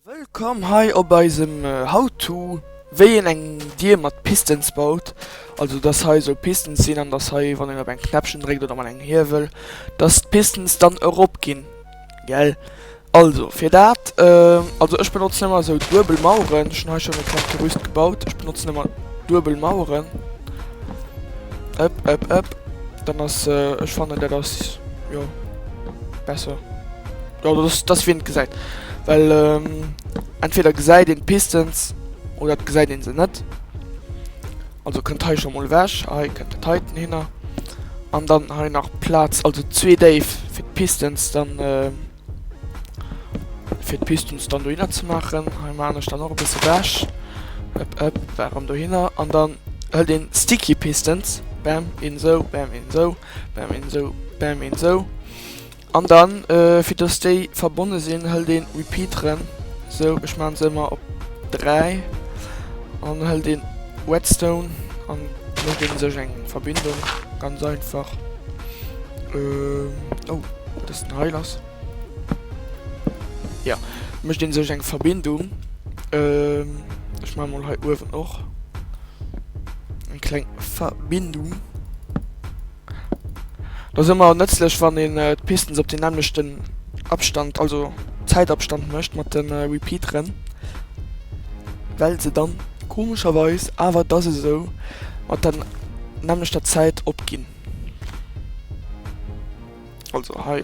Wëllkomm hei op eisem How to wéi een eng Dier mat Pistons baut, also dass hei soll Pistons sinn an dass hei wann een op eng Knäppchen dréckt oder op engem Hiewel dass d'Pistons dann erop ginn gell. Also fir dat also ech benotzen ëmmer esou duebel Maueren, ech hunn hei schonn e kleng Gerüst gebaut, ech benotzen ëmmer duebel Maueren ëpp ëpp ëpp dann ass ech fannen dat ass jo besser. Jo dat ass dass wien et gesäit. Well entweder gesäit een d'Pistons oder et gesäit een se net. Also kënnt hei scho mol ewech, hei kënnt de Titan hinner. An dann hei nach Plaz also zwee Déif fir d'Pistons dann fir d'Pistons dann dohinner ze maachen. Hei man ech dann och e bësse ewech. Ëpp ëpp warum dohinner. An dann hëlt een sticky Pistons. Bam een esou, bam een esou, bam een esou, bam een esou. An dann fir dass déi verbonne sinn hëlt een repeat rem, sou ech maan se ëmmer op 3 an hëlt een redstone an mécht een sech eng verbindung ganz einfach oh dass den heil ass jo mécht een sech eng verbindung ech maan mol hei uewen och eng kleng verbindung. Et ass ëmmer nëtzlech wann een d'Pisten op den nämmlechten Abstand, also Zäitabstand mécht mat de Repeateren, well se dann komescherweis awer dass esou mat der nämmlechter Zäit opginn, also hei.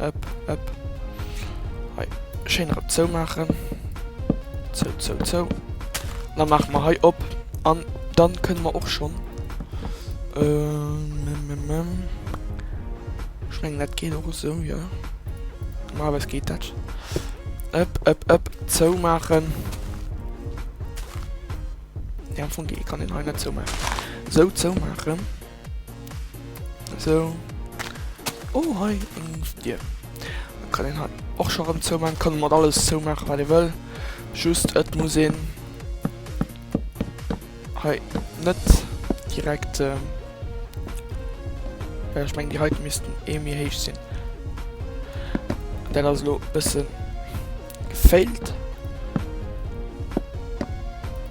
Ëpp, ëpp. Hei schéin erëm zou maachen. Zou, zou, zou. Da maache mer hei op. An dann kënne mer och schonn. Ech mengen, dat geet och esou, jo. Normalerweis geet dat. Ëpp, ëpp, ëpp. Zou maachen. Nee, am Fong kann een hei net zou maachen. Sou, zou maachen. So. Oh, hei eng Dier. Da kann een hei och scho rëm zoumaachen. Kann mat alles zoumaachen, wat ee wëll. Just et muss een hei net direkt, well ech mengen, déi heiten missten ee méi héich sinn. Dat ass elo e bësse gefailt.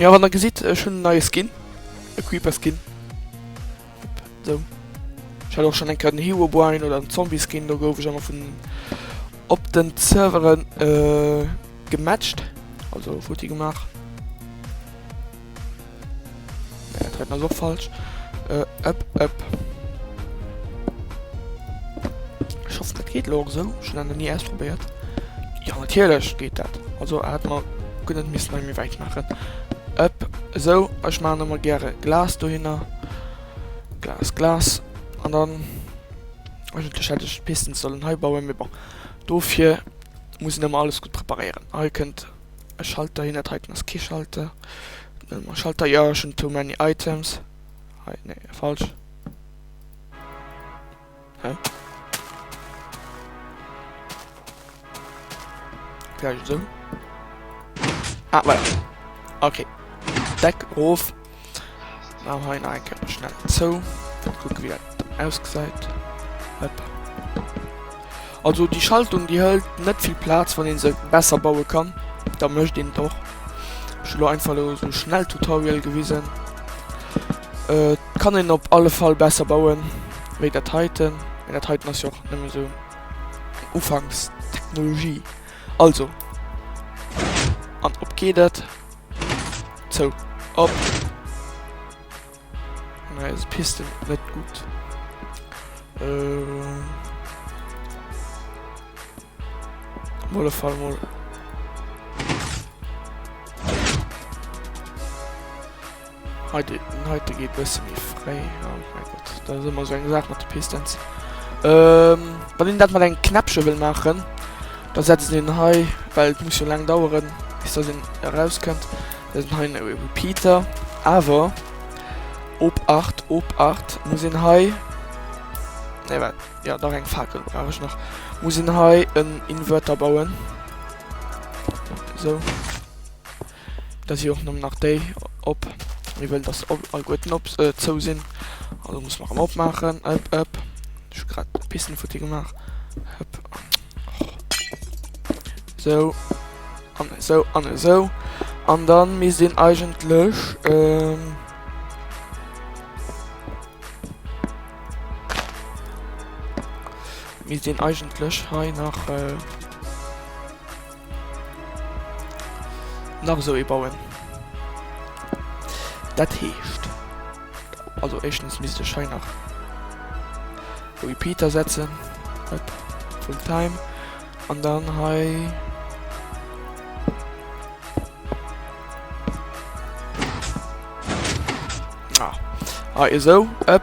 Jo wann der gesitt ech hunn en neie Skin, e Creeper Skin sou. Ech hat och schon eng Kéier den Herobrine oder den Zombie Skin, do gouf ech emmer vun op den Serveren gematcht, also futti gemaach. Nä dat heiten ass och falsch ëpp ëpp. Ech hoffen dat geet lo och sou, ech hunn dat nach ni ausprobéiert. Jo natierlech geet dat, also hat mer. Gudd et misst nach méi wäit maachen ëpp esou ech maachen emmer gäre Glas dohinner Glas Glas an dann eigentlech hätt ech d'Pisten sollen hei bauen mee bon dofir muss een emmer alles gudd preparéieren hei kënnt e Schalter hin dat heiten ass kee Schalter kënnt emmer e Schalter jo ech hunn too many items hei nee falsch. Vielleicht so. Ah, voilà. Okay. Deck auf. Dann habe ich noch einen Körper schnell zu. Dann gucken, wie das ausgesehen. Hopp. Also déi Schaltung déi hëlt net vill Plaz, wann een se besser baue kann da mécht een et och. Ech hu lo einfach lo esou e Schnelltutorial gewisen. Et kann een op alle Fall besser bauen wéi dat heiten, mee dat heiten ass jo och nëmme esou eng Ufanks-Technologie. Also, an op geet et, zou, op. Neis Piste net gutt. Ehm. Molle Fall mol. Heute, heute geht besser wie frei. Oh mein Gott, da sind wir so eine Sache mit der Pistons. Ähm, wenn ich das mal ein Knäppchen will machen, dann setze ich den Hai, weil es muss schon lange dauern, bis das herauskommt. Dësen hei ass e Repeater, awer op 8, op 8, muss een hei, nee wat, jo dach eng Fakel brauch ech nach, muss een hei en Inverter bauen, sou, da si och nëmmen nach déi op, mir wëllen dass op alleguerten op zou sinn, also muss mer en opmaachen, ëpp ëpp, ech hu grad e Pissenfutti gemaach, hëpp. Sou. An esou, an esou. An dann misst een eigentlech, ähm, misst een eigentlech hei nach, äh, Nach esou ee bauen. Dat heescht, also éischtens misst ech hei nach e Repeater setzen, hop, full time, an dann hei ah, hei esou, hop.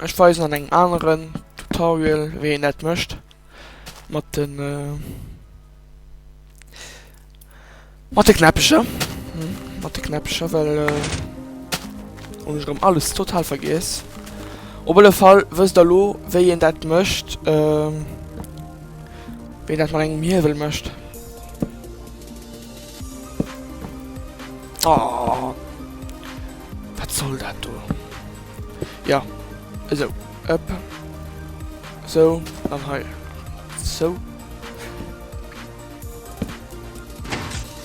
Ech weisen an engem aneren Tutorial wéi een dat mécht mat de mat de Knäppecher mat de Knäppecher well hunn ech erëm alles total vergiess. Op alle Fall wësst der elo wéi een dat mécht wéi een dat mat engem Hiewel mécht. Oh, wat soll dat do? Ja, esou, ëpp, esou, an hei, esou.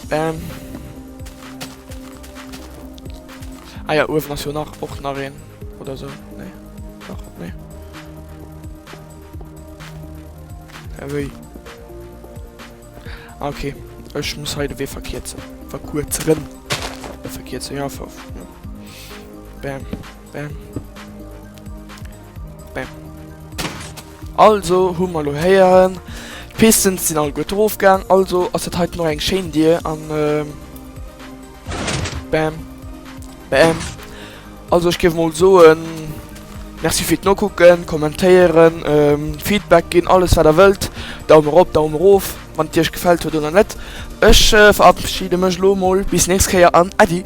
Bam. Ah ja, uewen ass jo nach och nach een, oder so, nee, nach, nee. Ja, wéi? Ah ok, ech muss hei de Wee verkierzen, verkuerzeren, verkierzen, ja, ver, ja. Bam, bam. Bam. Also, hu mer lo héieren, d'Pisten sinn all gutt drofgaang, also ass dat hei nach eng schéin Dier an, ähm, Bam. Bam. Also ech géif mol soen, Merci fir d'Nokucken, kommentéieren, ähm, Feedback ginn, alles wat der wëllt. Daumen erop, Daumen erof, wann et Iech gefält huet oder net. Ech äh, verabschiede mech lo mol, bis nächst Kéier an Äddi!